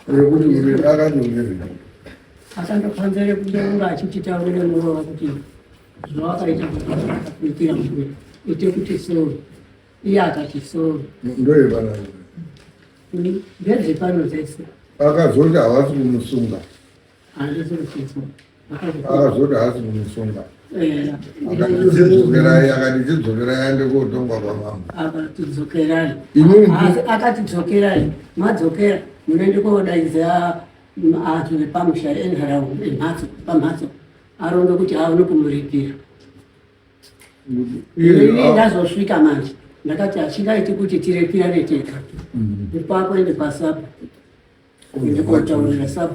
rekuti uri akanyongerei asandofanzere kudeura achititaurire murova kuti zvawakaita kuitira mkuru ite kuti soo iye akati soo ndoyevanani ndedzepano dzese akazoti havasi kumusunga Azoti haasi kumusunga. Eh, akatidzokerai akatidzokerai aende kotongwa kwamama akatidzokerai akatidzokerai madzokera munoende kodaidza acho vepamusha enharaunda emhatso pamhatso aronge kuti aone kumuripira ini ndazosvika manje ndakati hachingaiti kuti tirepirane tega mm. ipapo ende pasapo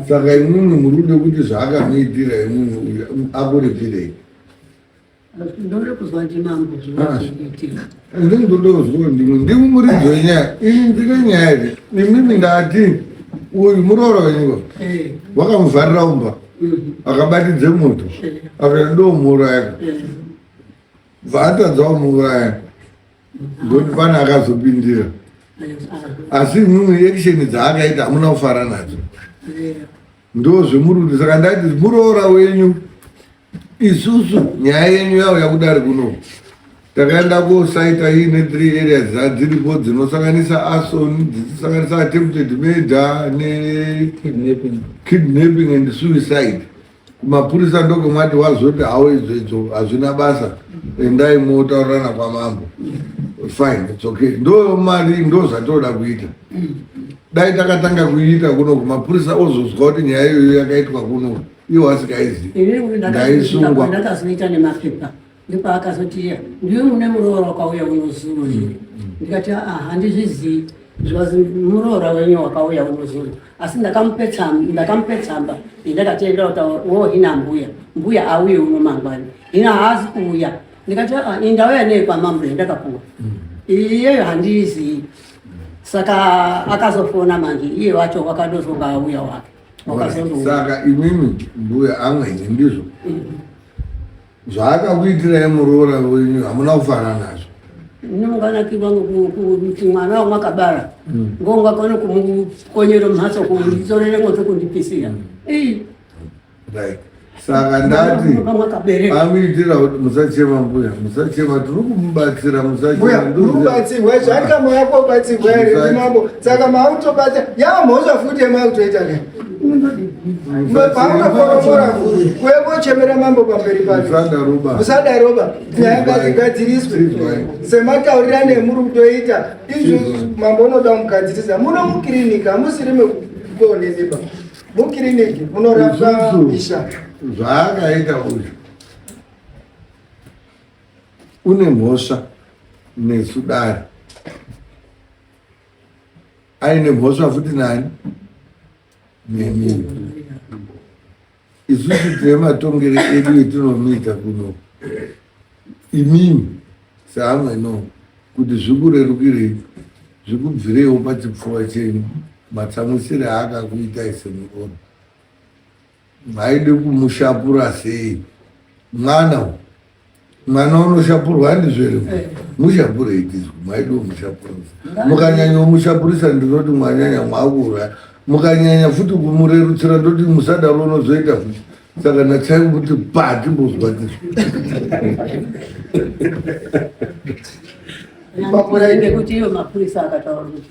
saka imwimwi murikude kuti zvaakamuitira imwimwi uyu akuripirei ndindodoziwa ndimwe ndimi muridzi wenyaya ini ndine nyaya iri imimi ndati uyu muroora wenyika eh. wakamuvharira umba mhm. akabatidze moto eh. akati ndomuuraya eh. bva atadza kumuuraya Ngoti pana akazopindira. Asi imwimwe action dzaakaita hamuna kufara nadzo. Ndo zvemurudo saka ndati muroora wenyu isusu nyaya yenyu yawo yakudari kuno takaenda kosaita iine three areas dzadziripo dzinosanganisa ason dzichisanganisa attempted murder nekidnapping and suicide kumapurisa ndokumati wazoti hawo idzo idzo hazvina basa endai motaurirana kwamambo fine its okay ndo mari ndo zvatinoda kuita dai takatanga kuiita kuno kumapurisa ozozwa kuti nyaya iyoyo yakaitwa kuno iwo asikaizi ndaisungwa ndopaakazoti iya ndiwe mune muroora wakauya unozuru here ndikati aa handizvizii zvikazi muroora wenyu wakauya unozuru asi ndakamupe tsamba indakati enda kutaura wo hina mbuya mbuya auye uno mangwani hina haazi kuuya ndikati aa indauya nei kwamambo yandakapuwa iyeyo handiizii saka akazofona manje iye wacho wakadozonga auya wake wakazondosaka imimi mbuya amweni ndizvo mm -hmm. zvaakakuitirai muroora wenyu hamuna kufara nazvo nomunganakirwa kuti mwana wamakabara mm. ngongakone kumukonyera mhatso kunditorere moto kundipisira mm. saka ndati amuitira kuti musachema mbuya musachema tiri kumubatsira musachemubatsirwa zvakamaya kobatsirwa here mambo saka mautobatsira yaamhosva futi yemakutoita nei paungakoromora vhuru kuekochemera mambo pamberi pakeusadaroba nyaya ngazigadziriswe semataurira nemuri kutoita izvi mambo unoda kumugadzirisa muno mukiriniki hamusiri mekuoneneba mukiriniki munorapwa isha zvaakaita uyu une mhosva nesu dare aine mhosva futi nani nemi isusu tine matongere edu etinomiita kuno imimi seamweno kuti zvikurerukirei zvikubvireiwo pachipfuva chenyu matsamwisire aakakuitai semurono Maide kumushapura sei mwana u mwana unoshapurwa handizvere mushapurei tizwi maide kumushapurisa mukanyanya umushapurisa ndinoti mwanyanya mwakuuraya mukanyanya futi kumurerutsira ndoti musadaro unozoita futi saka natsai kuti pati mbozwa tizwi Mapura ende kuti iyo mapurisa akataura kuti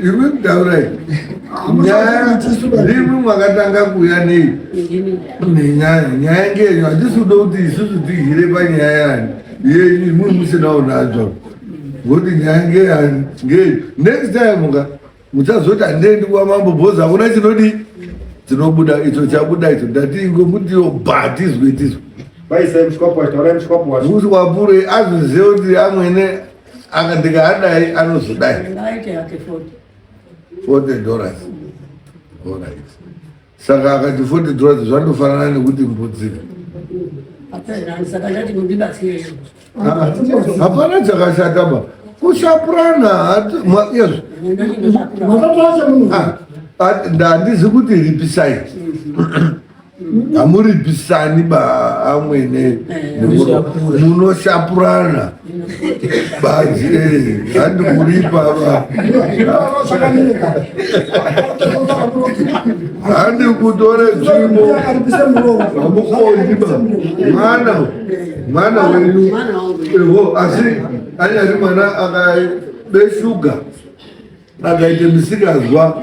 Iwe mtaurai nyaya ndimwi mwakatanga kuuya nei nenyaya nyaya ngenyu hatisi kuda kuti isusu tihire panyaya yani yenyu imwi musinawo nadzo ngoti nyaya ngeyani ngeyi next time muka muchazoti handiendi kuva mambo bhozi hakuna chinodii tinobuda icho chabuda icho ndatingo mutiwo bha tizwe tizwe vaisai mshwapo vataura mshwapo wacho kuti wapure azvizive kuti amwene aka ndikaadai anozodai forty dollars orit saka akati forty dollars zvandofanana nekuti mbudzika hapana chakashata ba kushapurana handizi kuti ripisai hamuribisani baamwene eh. munoshapurana bazi handi kuripa handi kutore tsvimbo hamukondi ba mwana mwana wenyu evo asi anyari mwana akabe shuga akaite misikazwa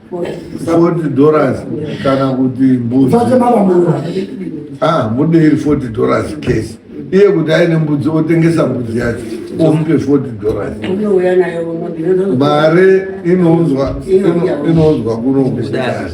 40 dollars kana kuti mbuzi ah mudei 40 dollars case iye kuti aine mbudzi otengesa mbudzi yacho omupe 40 dollars mari inounzwa inounzwa kuno kudari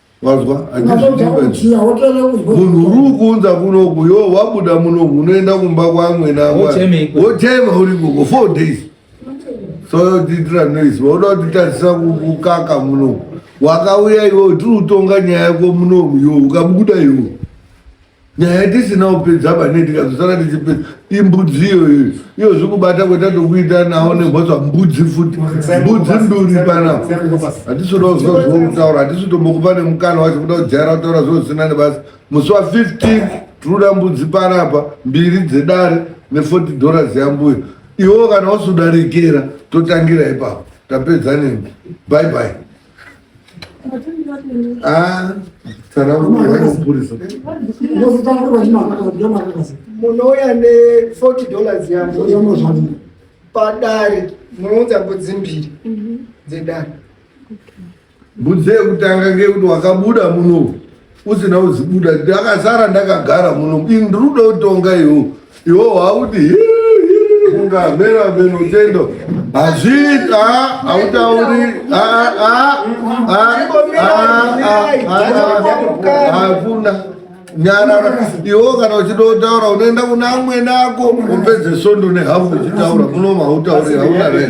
wazwa munhu uri kuunza kunoku yo wabuda munoku unoenda kumba kwamwena wochema uri koko four days so tiitira noise wauda kutitarisa kukaka munoku wakauya iwo tiri kutonga nyaya yako munomu yo ukabuda iwo nyaya tisina kupedza pane tikazosara tichipedza imbudzi iyoyo iyo zvikubata kweta tokuita nawo nemhosva mbudzi futi mbudzi nduri panapa hatisoda kuziva zvokutaura hatisi tombokupa nemukana wacho kuda kujaira kutaura zvozvisina nebasa musi wa 15 tinoda mbudzi panapa mbiri dzedare ne40 dollars yambuyo iwo kana wasudarekera totangira ipapo tapedza nemi bye bye Ah, munouya ne40 dollars yavo padare munounza mbudzi mbiri mhm. dzedare mbudzi yekutanga ngeyekuti wakabuda muno usina uzibuda ndakasara ndakagara muno ndiruda kutonga iwo iwo hauti ungamera meno tendo hazviita hautauri hakuna nyarara iwo kana uchida kutaura unoenda kuna amwene ako upedze sondo nehafu uchitaura munoma hautauri hauna ree